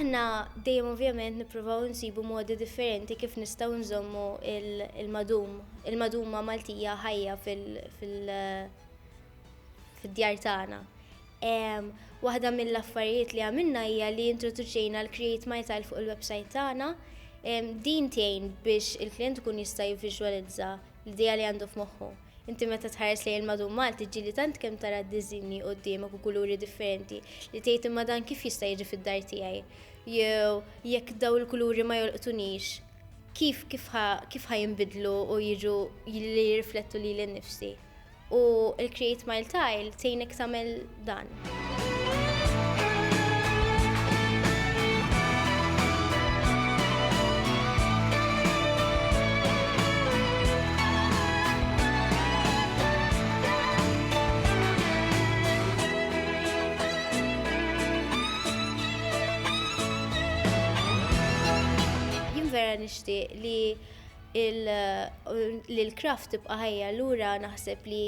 Aħna dejjem ovvjament nippruvaw insibu modi differenti kif nistgħu nżommu il-madum, il-maduma Maltija ħajja fil-djar tagħna. Waħda mill-affarijiet li għamilna hija li introduċejna l-Create My Tile fuq il-website tagħna. Din tgħin biex il-klijent ikun jista' jivviżwalizza l-idea li għandu f'moħħu. Inti meta tħares lejn il-madum Malti ġieli tant kemm tara d-diżinji quddiemek u kuluri differenti li tgħid imma dan kif jista' jiġi fid-dar tiegħi? Jew jekk dawn il-kuluri ma jolqtunix, kif kif ħa kif ħa jinbidlu u jiġu li jirriflettu lili nnifsi? U l-Create Mile Tile tgħinek tagħmel dan. vera nixtieq li l-kraft tibqa' ħajja allura naħseb li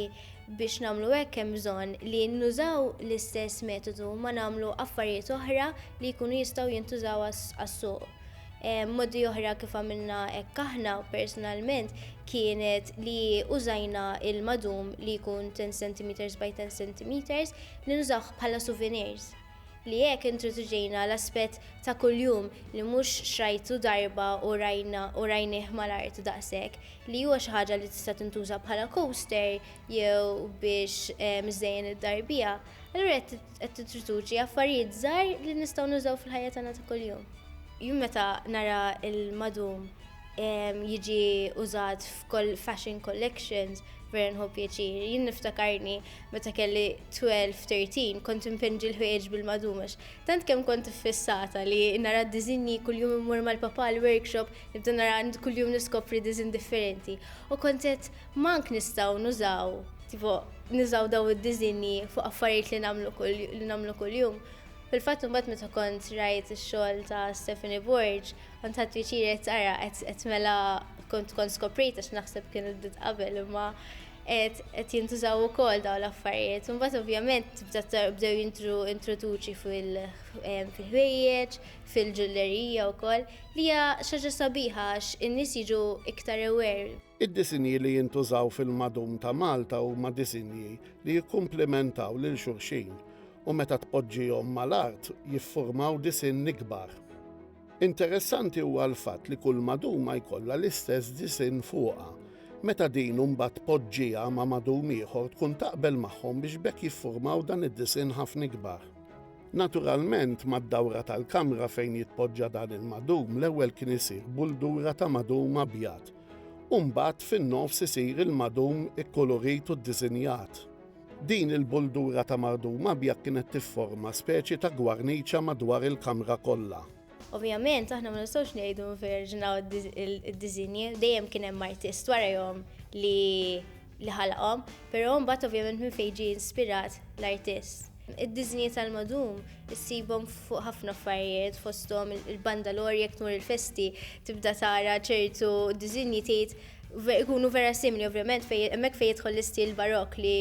Biex nagħmlu hekk hemm bżonn li nużaw l-istess metodu ma nagħmlu affarijiet oħra li jkunu jistgħu jintużaw għas-suq. Modi oħra kif għamilna hekk aħna personalment kienet li użajna il-madum li jkun 10 centimeters by 10 centimeters li nużawh bħala souvenirs. Li hekk introduċejna l-aspett ta' kuljum li mhux xrajtu darba u rajna u rajnih mal-art daqshekk, li huwa xi ħaġa li tista' tintuża bħala coaster jew biex iżżejjen id-dar biha, allura qed qed titroduċi affarijiet żgħar li nistgħu nużaw fil-ħajja tagħna ta' kuljum. Jien meta nara l-madum jiġi użat f'kull fashion collections vera nħu pjaċir. Jien niftakarni Meta kelli 12, 13 kont impenġi l-ħwejjeġ bil-madum għax tant kemm kont iffissata li nara d-diżinji kuljum immur mal-papà l-workshop nibda nara kuljum niskopri diżinn differenti u kont għedt m'ank nistgħu nużaw tipo nużaw dawn id-diżinji fuq affarijiet li nagħmlu kull li nagħmlu kuljum. Fil-fatt imbagħad meta kont rajt ix-xogħol ta' Stephanie Borg, kont ħadd piċir qed ara qed mela kont kont skoprejt għax naħseb kien id qabel imma Qed qed jintużaw ukoll dawn l-affarijiet. Imbagħad ovvjament tibda tar- bdew jintru introduċi fil- em, fil-ħwejjeġ, fil-ġullerija wkoll, li hija xi ħaġa sabiħa għax in-nies jiġu iktar aware. Id-disinji li jintużaw fil-madum ta' Malta huma disinji li jikkumplimentaw lil xulxin u meta tpoġġihom mal-art jiffurmaw disinn ikbar. Interessanti huwa l-fatt li kull maduma jkollha l-istess disinn fuqha. Meta din imbagħad tpoġġiha ma' madum ieħor tkun taqbel magħhom biex b'hekk jiffurmaw dan id-disinn ħafna ikbar. Naturalment, mad-dawra tal-kamra fejn jitpoġġa dan il-madum l-ewwel kien isir buldura ta' madum abjad u mbagħad fin-nofs isir il-madum ikkulurit u ddisinjat. Din il-buldura ta' mardum abjad kienet tifforma speċi ta' gwarniċa madwar il-kamra kollha. Ovvjament aħna ma nistgħux ngħidu nverġnaw id-diżinji, dejjem kien hemm artist warajhom li ħalaqhom, però mbagħad ovvjament minn fejn ġie inspirat l-artist. Id-diżinji tal-madum issibhom fuq ħafna affarijiet fosthom il-bandalori jekk tmur il-festi tibda tara ċertu diżinji tgħid Ikunu vera simili ovvjament fejn hemmhekk fejn jidħol l-istil barokk li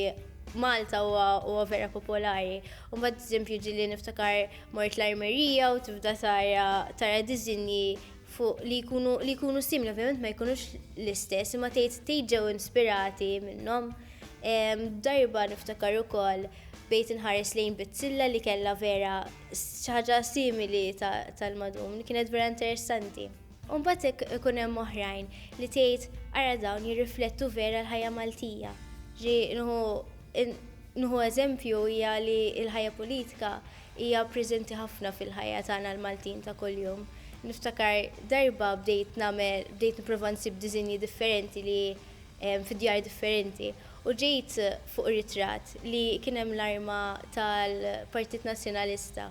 Malta huwa huwa vera popolari. U mbagħad eżempju ġili niftakar mort l-armerija u tibda tara tara diżinji fuq li jkunu li jkunu simili ovvjament ma jkunux l-istess imma tgħid tgħid ġew inspirati minnhom. Darba niftakar ukoll bejt inħares lejn bizzilla li kellha vera xi ħaġa simili tal-madum li kienet vera interessanti. U mbagħad ikun hemm oħrajn li tgħid ara dawn jirriflettu vera l-ħajja Maltija. Ġi nħu eżempju hija li l-ħajja politika hija preżenti ħafna fil-ħajja tagħna l-Maltin ta' kuljum. Niftakar darba bdejt nagħmel bdejt nipprova nsib diżinji differenti li fi djar differenti u ġejt fuq ritratt li kien hemm l-arma tal-Partit Nazzjonalista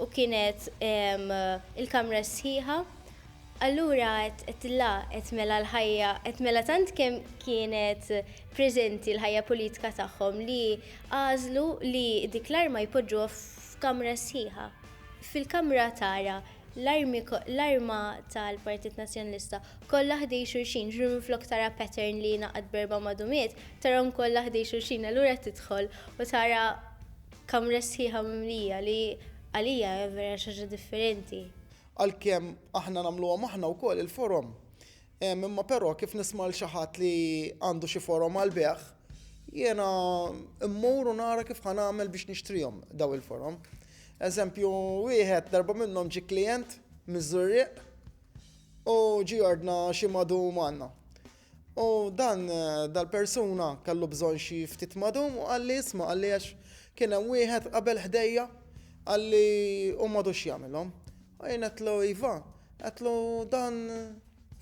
u kienet il-kamra sħiħa, allura għedt la, għedt mela l-ħajja, għedt mela tant kemm kienet preżenti l-ħajja politika tagħhom li għażlu li dik l-arma jpoġġuha f'kamra sħiħa. Fil-kamra tara l-arma tal-Partit Nazzjonalista kollha ħdej xulxin, ġifieri minflok tara pattern li jingħaqad b'erba' madumiet, tarahom kollha ħdej xulxin, allura tidħol u tara Kamra sħiħa mimlija li għalija hija vera xi ħaġa differenti. Għalkemm aħna nagħmluhom aħna wkoll il-forom. Hemm imma però kif nisma' lil xi ħadd li għandu xi forom għall-bejgħ, jiena mmur u nara kif ħa nagħmel biex nixtrihom dawn il-forom. Eżempju wieħed darba minnhom ġie klijent miż-Żurrieq u ġie jordna xi madu magħna. U dan dal-persuna kellu bżonn xi ftit ma dum u qalli isma' qalli għax kien hemm wieħed qabel ħdejja qalli hu m'għadux jagħmilhom. U jien għedtlu iva, għedtlu dan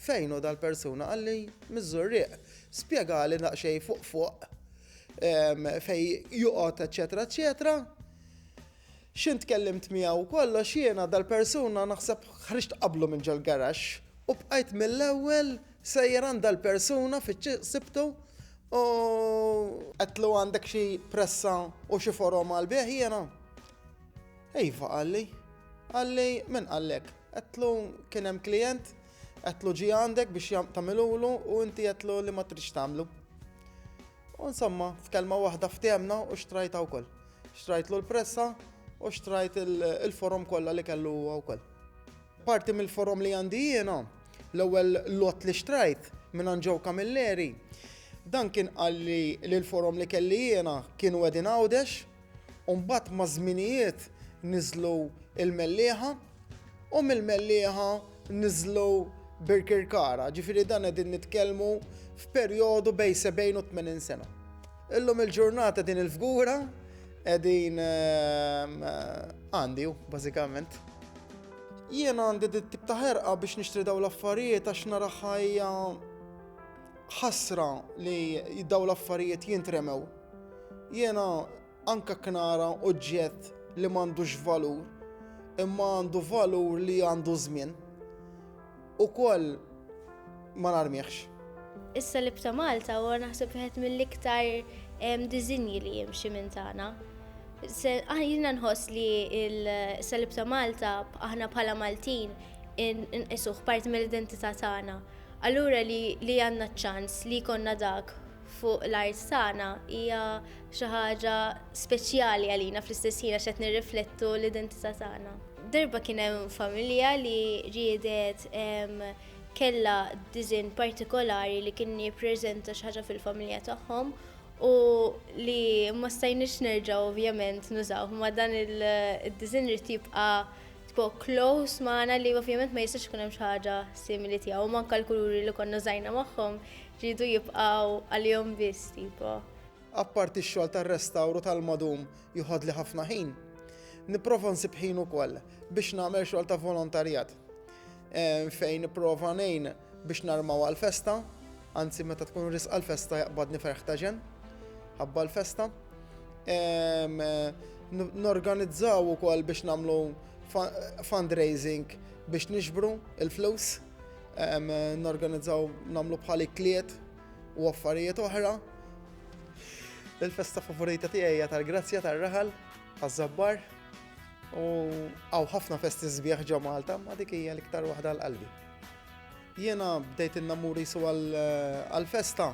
fejn hu dal-persuna qalli miż-Żurrieq. Spjegali daqsxejn fuq fuq fejn joqgħod eċċetera eċċetera. X'int tkellimt miegħu u kollox, jiena dal-persuna naħseb ħriġt qablu minn ġol-garaxx u bqajt mill-ewwel sejjer għand dal-persuna fiċ-ċ sibtu u. Għedtlu għandek xi pressa u xi forom għall-bigħ jiena? Iva qalli. Qalli min qallek? Għedtlu kien hemm klijent, għedtlu ġie għandek biex tagħmilulu u inti għedtlu li ma tridx tagħmlu. U insomma, f'kelma waħda fthemna u xtrajtha wkoll. Xtrajtlu l-pressa u xtrajt il-forom kollha li kellu huwa wkoll. Parti mill-forom li għandi jiena, l-ewwel lot li xtrajt minn Joe Camilleri, dan kien qalli li l-forom li kelli jiena kienu qegħdin Għawdex U mbagħad maż-żminijiet niżlu l-Mellieħa u mill-Mellieħa niżlu Birkirkara, ġifieri dan qegħdin nitkellmu f'perjodu bejn 70 u 80 sena. Illum il-ġurnata din il-fgura qegħdin ehm, għandi bażikament. Jiena għandi dit tip ta' ħerqa biex nixtri daw l-affarijiet għax nara ħajja Ħasra li daw l-affarijiet jintremew. Jiena anka knara oġġett li m'għandux valur, imma għandu valur li għandu żmien. Ukoll ma narmihx. Is-salib ta' Malta huwa naħseb wieħed mill-iktar diżinji li jimxi minn tagħna. Ah, jiena nħoss li s-salib ta' Malta aħna bħala Maltin inqisuh parti mill-identità tagħna Allura li għandna ċ-ċans li jkollna dak fuq l-art tagħna hija xi ħaġa speċjali għalina fl-istess ħin għax qed nirriflettu l-identità tagħna. Darba kien hemm familja li riedet kellha diżinn partikolari li kien jippreżenta xi ħaġa fil-familja tagħhom u li ma stajniex nerġgħu ovvjament nużawh, imma dan id-diżinn irid jibqa' Tpo close magħna li ovvjament ma jistax ikun hemm xi ħaġa simili tiegħu, manka l-kuluri li konna żajna magħhom rridu jibqgħu għalihom biss tipo. Apparti x-xogħol tar-restawru tal-madum joħodli ħafna ħin, nipprova nsib ħin ukoll biex nagħmel xogħol ta' volontarjat fejn nipprova ngħin Biex narmaw għall-festa, anzi meta tkun risqa l-festa jaqbadni ferħ ta' ġenn, ħabba l-festa. Norganizzaw ukoll biex nagħmlu fundraising biex niġbru l-flus, norganizzaw nagħmlu bħal ikliet u affarijiet oħra. Il-festa favorita tiegħi hija tal-Grazzja tar-Raħal, taż-Żabbar, u hawn ħafna festi sbieħ ġo Malta, ma dik hija l-iktar waħda għal qalbi. Jiena bdejt innammur jisu għal-festa.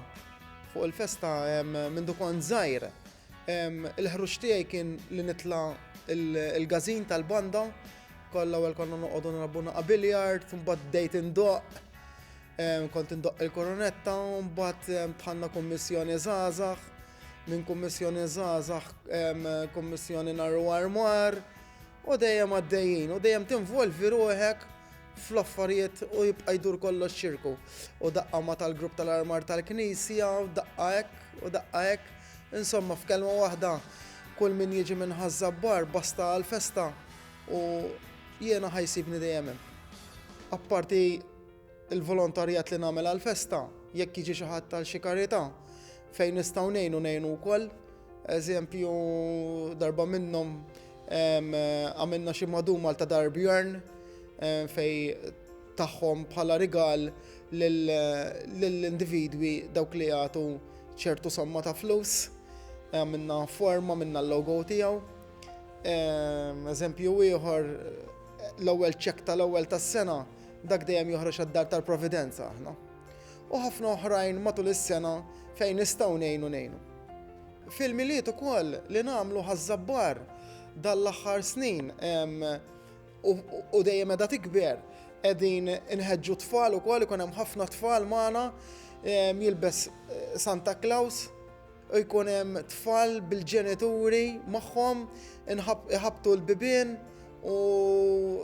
Fuq il-festa minn dukon zaħir. Il-ħruġ tiegħi kien li nitla il-gazin tal-banda. Kolla għal konna noqogħdu narabu naqa' biljard, mbagħad bdejt indoq. Kont indoq il-koronetta, mbagħad tħanna kummissjoni żgħażagħ. Minn kummissjoni żgħażagħ, kummissjoni narru armar. U dejjem għaddejjin, u dejjem tinvolvi ruħek fl-affarijiet u jibqa' jdur kollox ċirku. U daqqa ma tal-grupp tal-armar tal-Knisja, u daqqa hekk, u daqqa hekk. Insomma, f'kelma waħda, kull min jiġi minn ħaż-żabbar basta għall-festa u jiena ħajsibni dejjem hemm. Apparti l-volontarjat li nagħmel għall-festa, jekk jiġi xi ħadd għal xi karità, fejn nistgħu ngħinu ngħinu wkoll. Eżempju, darba minnhom Għamilna xi madumal ta' Dar Björn fej tagħhom bħala rigal lill-individwi dawk li jagħtu ċertu somma ta' flus. Għamilna forma minna l-logo tiegħu. Eżempju ieħor l-ewwel ċek tal-ewwel tas-sena dak dejjem joħroġ għad-dar tal-Providenza aħna. U ħafna oħrajn matul is-sena fejn nistgħu ngħinu ngħinu. Fil-Milied ukoll li nagħmlu ħaż-Żabbar dan l-aħħar snin u dejjem qiegħda tikber, qegħdin inħeġġu t-tfal ukoll, ikun hemm ħafna tfal magħna, jilbes Santa Klaws u jkun hemm tfal bil-ġenituri magħhom, iħabbtu l-bibien u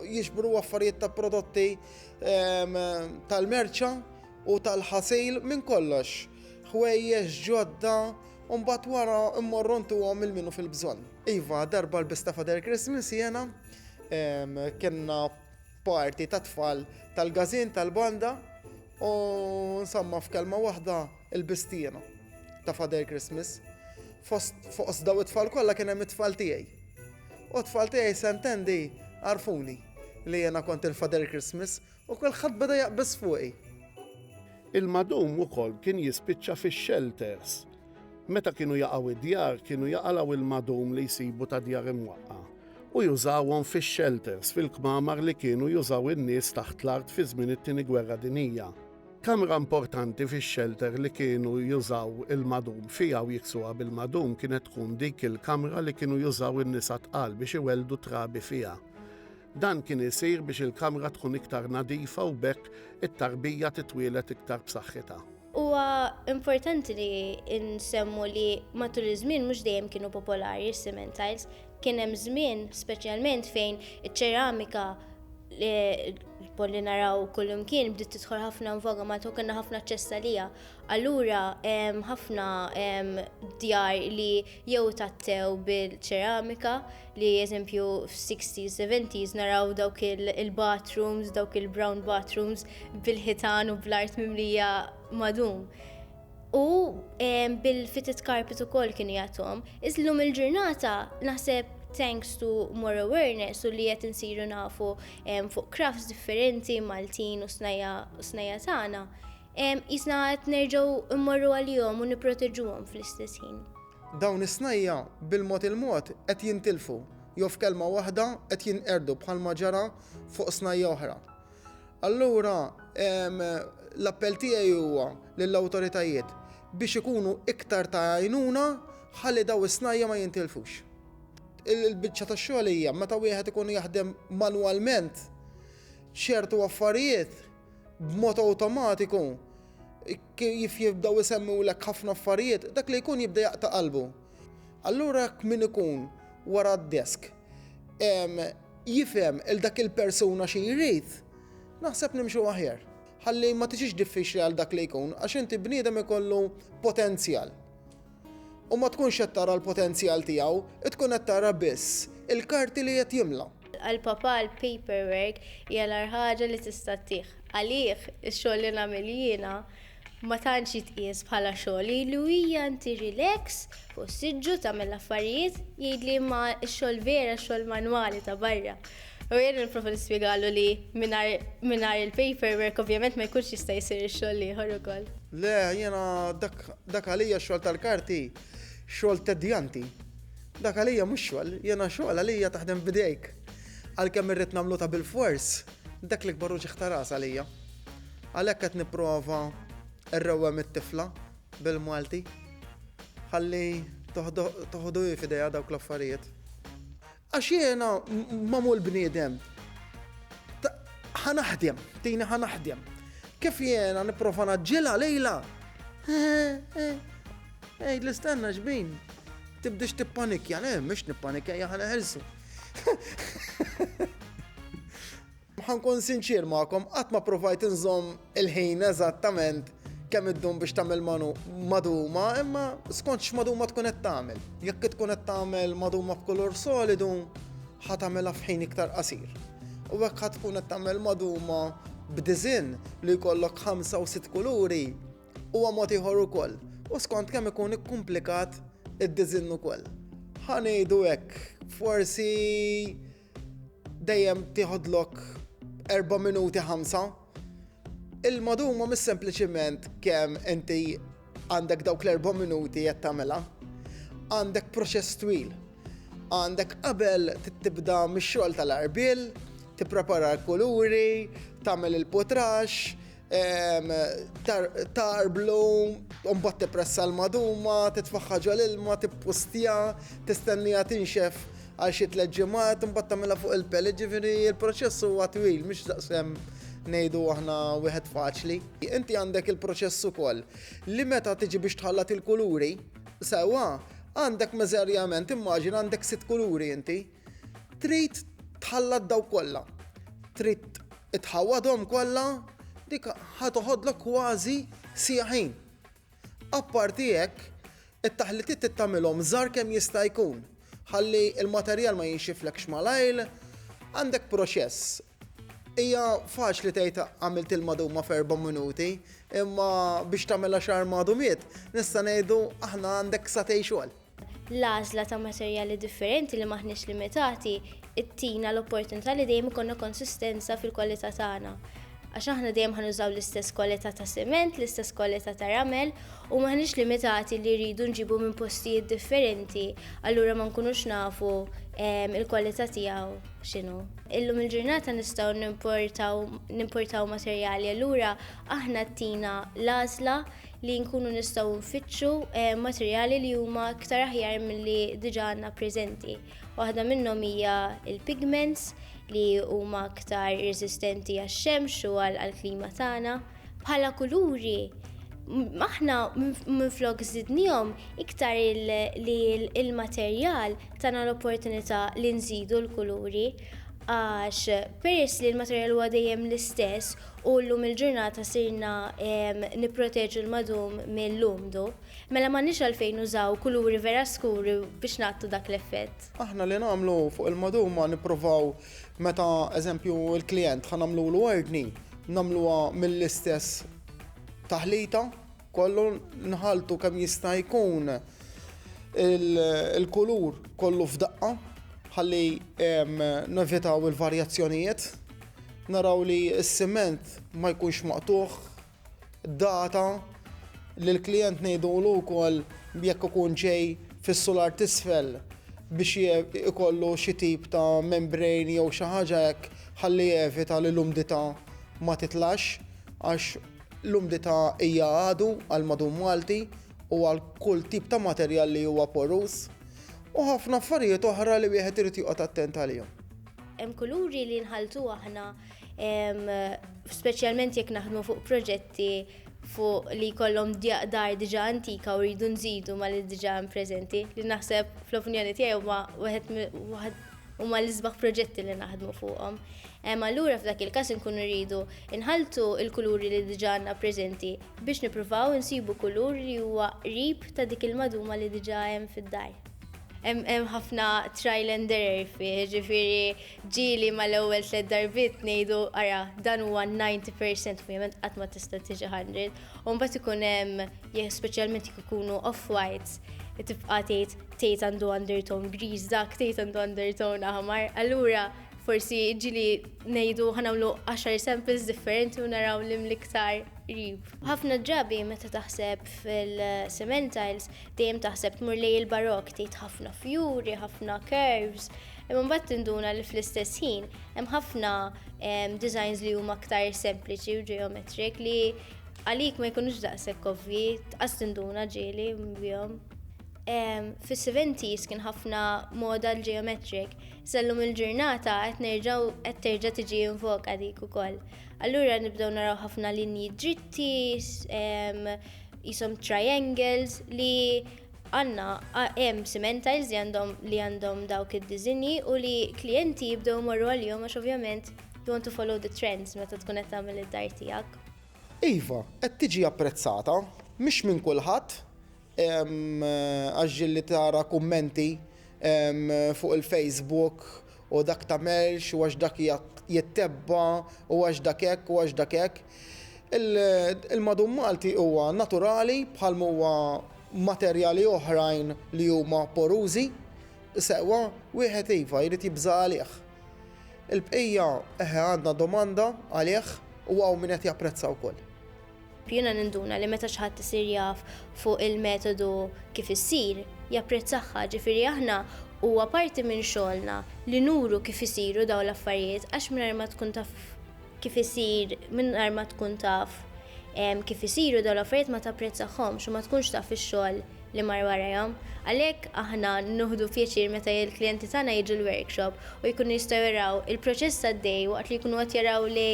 jiġbru affarijiet ta' prodotti tal-merċa u tal-ħasil minn kollox. ħwejjeġ ġodda u mbagħad wara mmorru ntuhom lil min hu fil-bżonn. Iva, darba lbista Father Christmas jiena, kellna party tat-tfal tal-gazin tal-banda u insomma f'kelma waħda lbist jiena ta' Father Christmas. Fost daw it-tfal kollha kien hemm it-tfal tiegħi. U t-tfal tiegħi sentendi għarfuni li jiena kont il-Father Christmas U kulħadd beda jaqbeż fuqi. Il-madum ukoll kien jispiċċa fix-xelters. Meta kienu jaqgħu d-djar, kienu jaqalgħu il-madum li jsibu ta' djar imwaqqa' u jużawhom fix-xelters fil-kmamar li kienu jużaw in-nies taħt l-art fi żmien it-Tieni Gwerra Dinjija. Kamra importanti fix-xelter li kienu jużaw il-madum fiha u jiksuha bil-madum kienet tkun dik il-kamra li kienu jużaw in-nisa tqal biex iwelldu t-trabi fiha. Dan kien isir biex il-kamra tkun iktar nadifa u b'hekk it-tarbija titwieled iktar b'saħħitha. Huwa importanti li nsemmu li matul iż-żmien mhux dejjem kienu popolari s-cement tiles. Kien hemm żmien speċjalment fejn iċ-ċeramika li naraw kullum kien bdiet tidħol ħafna nvoga ma kellna ħafna aċċess għalija. Allura ħafna djar li jew tattew bil-ċeramika li eżempju f-60s, 70s naraw dawk il-bathrooms, dawk il-brown bathrooms bil-ħitan u bl-art mimlija madum. U bil-fitted carpet u koll kienu jatom. Iżlum il-ġurnata naħseb thanks to more awareness u li qed insiru nafu fuq crafts differenti Maltin u snajja tagħna, jisna qed nerġgħu mmorru għalihom u nipproteġuhom fl-istess ħin. Dawn is-snajja' bil-mod il-mod qed jintilfu, jew f'kelma waħda qed jinqerdu bħalma ġara fuq snajja' oħra. Allura l-appell tiegħi huwa lill-awtoritajiet biex ikunu iktar ta' għajnuna ħalli dawn is-snajja' ma jintilfux. Il-biċċa tax-xogħol hija meta wieħed ikun jaħdem manwalment ċertu affarijiet b'mod awtomatiku kif jibdew isemmulek ħafna affarijiet, dak li jkun jibda jaqta' qalbu. Allura jekk min ikun wara d-desk jifhem il dak il-persuna xi jrid, naħseb nimxu aħjar. Ħalli ma tiġix diffiċli għal dak li jkun għax inti bniedem ikollu potenzjal. u ma tkunx qed tara l-potenzjal tiegħu, tkun qed tara biss il-karti li qed jimla. Għal papà l-paperwork hija l-agħar ħaġa li tista' ttih. Għalih, ix-xogħol li nagħmel jiena ma tantx jitqies bħala xogħol. Ilu hija inti relax fuq is-siġġu tagħmel l-affarijiet, jgħidli imma x-xogħol vera x-xogħol manwali ta' barra. U jien nipprova nispjegalu li mingħajr il-paperwork ovvjament ma jkunx jista' jsir ix-xogħol l-ieħor ukoll. Le, jiena dak għalija x-xogħol tal-karti xogħol tedjanti. Dak għalija mhux xogħol, jiena xogħol għalija taħdem b'idejk. Għalkemm irrid nagħmlu ta' bilfors, dak l-ikbar uġigħ ta' ras għalija. Għalhekk qed nipprova rrewwem it-tifla bil-Malti ħalli toħdu hi f'idejha dawk l-affarijiet. Għax jiena magħmul bniedem ta' ħa naħdem, tini ħa naħdem. Kif jiena nipprova naġġilha lejla? Ejd li stenna xbin, tibdix tippanikja, le, mhux nippanikja jaħna ħelsu. Ħa nkun sinċier magħkom, qatt ma ppruvajt inżomm il-ħin eżattament kemm iddum biex tagħmel maduma, imma skont x'maduma tkun qed tagħmel. Jekk tkun qed tagħmel maduma b'kulur solidu, ħa tagħmilha f'ħin iktar qasir. U hekk ħa tkun qed tagħmel maduma b'diżinn li jkollok ħamsa u sitt kuluri, huwa mod ieħor ukoll. U skont kemm ikun ikkumplikat id-diżinn ukoll. Ħa ngħidu hekk, forsi dejjem tieħodlok 4 minuti 5. Il-maduma mis sempliċiment kemm inti għandek dawk l-4 minuti qed tagħmilha. Għandek proċess twil. Għandek qabel tibda mix-xogħol tal-arbil, tipprepara l-kuluri, tagħmel il-putrax, tarblu, mbagħad tippressa l-maduma, titfaħħa ġol ilma, tippustja, tistennija tinxef għal xi tliet ġimgħat, mbagħad tagħmilha fuq il-pel, jiġifieri l-proċess huwa twil mhux daqsem ngħidu aħna wieħed faċli. Inti għandek il-proċess ukoll li meta tiġi biex tħallat il-kuluri, sewwa għandek meżerjament immaġina għandek sitt kuluri inti. Trid tħallat daw kollha. Trid tħawwadhom kollha, dik ħa toħodlok kważi siegħa ħin. Apparti hekk, it-taħlitiet trid tagħmilhom żgħar kemm jista' jkun ħalli l-materjal ma jinxiflekx malajr, għandek proċess. Hija faċli tgħid għamilt il-maduma f'erba' minuti, imma biex tagħmilha xahar madumiet, nista' ngħidu aħna għandek satej xogħol. l-għażla ta' materjali differenti li m'aħniex limitati ttina l-opportunità li dejjem ikollna konsistenza fil-kwalità tagħna. Għax aħna dejjem ħa nużaw l-istess kwalità ta' siment, l-istess kwalità ta' ramel u m'aħniex limitati li rridu nġibu minn postijiet differenti allura ma nkunux nafu l-kwalità tiegħu x'inhu. Illum il-ġurnata nistgħu nimportaw nimportaw materjali allura aħna ttina l-għażla li nkunu nistgħu nfittxu eh, materjali li huma iktar aħjar milli diġà għandna preżenti. Waħda minnhom hija il-pigments li huma aktar resistenti għax-xemx u għall-klima tagħna. Bħala kuluri, aħna minflok żidnihom iktar li il-materjal tagħna l-opportunità li nżidu l-kuluri għax peress li l-materjal huwa dejjem l-istess u llum il-ġurnata sirna nipproteġu l-madum mill-umdu, mela m'għandniex għalfejn nużaw kuluri vera skuri biex nagħtu dak l-effett. Aħna li nagħmlu fuq il-madum ma nipprovaw meta eżempju l-klijent ħa nagħmlulu ordni nagħmluha mill-istess taħlita, Kollu nħalltu kemm jista' jkun il-kulur kollu f'daqqa ħalli nevitaw il-varjazzjonijiet. Naraw li s-siment ma jkunx maqtugħ, data, lill-klijent ngħidulu wkoll jekk ikun ġej fis-sular t'isfel biex ikollu xi tip ta' membrane jew xi ħaġa hekk ħalli jevita li l-umdità ma titlax għax L-umdità hija għadu għal madum Malti u għal kull tip ta' materjal li huwa poruż, u ħafna affarijiet oħra li wieħed irid joqgħod attent għalihom. Hemm kuluri li nħalltu aħna, speċjalment jekk naħdmu fuq proġetti fuq li jkollhom dar diġà antika u rridu nżidu ma' li diġà hemm preżenti, li naħseb fl-opinjoni tiegħi huma wieħed huma l-isbaħ proġetti li naħdmu fuqhom. Hemm allura f'dak il-każ inkunu rridu inħaltu l-kuluri li diġà għandna preżenti biex nippruvaw insibu kulur li huwa qrib ta' dik il-maduma li diġà hemm fid-dar. Hemm ħafna trial and error fih, ġifieri ġieli mal-ewwel tliet darbiet ngħidu ara dan huwa 90% ovvjament qatt ma tista' tiġi 100, u mbagħad ikun hemm speċjalment jekk ikunu off-whites tibqa' tgħid tgħid għandu undertone griż, dak tgħid għandu undertone aħmar. Allura forsi ġili ngħidu ħanawlu 10 samples differenti u naraw li mliktar rib. Ħafna drabi meta taħseb fil-sementals dejjem taħseb tmur lej il-barok tgħid ħafna fjuri, ħafna curves, imma mbagħad tinduna li fl-istess ħin hemm ħafna designs li huma aktar sempliċi u geometric li għalik ma jkunux daqshekk ovvi, tqas tinduna ġieli bihom. Fis-seventies kien ħafna moda l-geometric, sellum il-ġurnata qed nerġgħu qed terġa' tiġi invoka dik ukoll. Allura nibdew naraw ħafna linji dritti, jisom triangles li għandna hemm simentiles li għandhom li għandhom dawk id-diżinji u li klijenti jibdew imorru għalihom għax ovvjament you want to follow the trends meta tkun qed tagħmel id-dar tiegħek. Iva, qed tiġi apprezzata, mhix minn kulħadd, Għaġġel li tara kummenti fuq il-Facebook u dak tagħmelx u għax dak jittebba u għax dak hekk u għax dak hekk. Il-madum Malti huwa naturali bħal m'huwa materjali oħrajn li huma porużi, sewwa wieħed iva jrid jibża' għalih. Il-bqija eħe għandna domanda għalih u hawn min qed japprezza wkoll. Jiena ninduna li meta xi ħadd isir jaf fuq il-metodu kif issir, japprezzahha. Ġifieri aħna huwa parti minn xogħolna li nuru kif isiru dawn l-affarijiet għax mingħajr ma tkun taf kif isir, mingħajr ma tkun taf kif isiru dawn l-affarijiet ma tapprezzahomx u ma tkunx taf ix-xogħol li mar warajhom. Għalhekk aħna nieħdu pjaċir meta l-klijenti tagħna jiġu l-workshop u jkunu jistgħu jaraw il-proċess għaddej waqt li jkunu qed jaraw li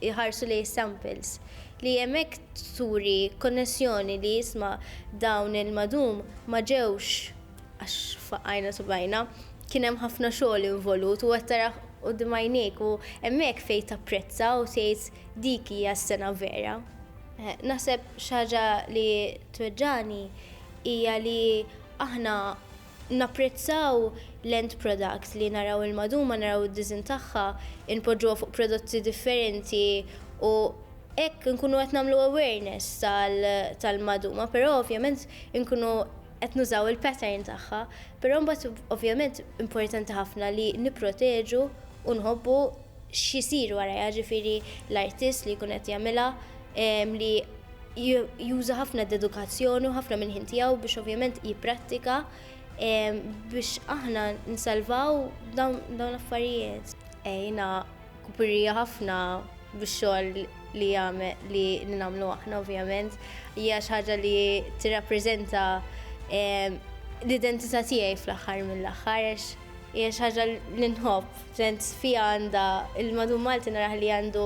iħarsu lejn is-samples, li hemmhekk turi konnessjoni li isma' dawn il-madum ma ġewx għax faqqajna subgħajna, kien hemm ħafna xogħol involut u qed tarah quddiem għajnejk u hemmhekk fejn tapprezza u tgħid dik hija s-sengħa vera. Naħseb xi ħaġa li tweġġagħni hija li aħna, Napprezzaw l-end product li naraw il-maduma, naraw id-disinn tagħha, inpoġġuha fuq prodotti differenti u hekk inkunu qed nagħmlu awareness tal-maduma però ovvjament inkunu qed nużaw il-pattern tagħha. Però mbagħad ovvjament importanti ħafna li nipproteġu u nħobbu x'isir warajha, ġifieri l-artist li jkun qed jagħmilha li juża ħafna dedukazzjoni u ħafna minn ħin tiegħu biex ovvjament jipprattika biex aħna nsalvaw dawn l-affarijiet. Ejna kupirija ħafna biex xogħol li jagħmel li nagħmlu aħna ovvjament hija xi ħaġa li tirrappreżenta l-identità tiegħi fl-aħħar mill-aħħar għax hija xi ħaġa li nħobb, sens fiha għandha il-madum Malti naraħ li għandu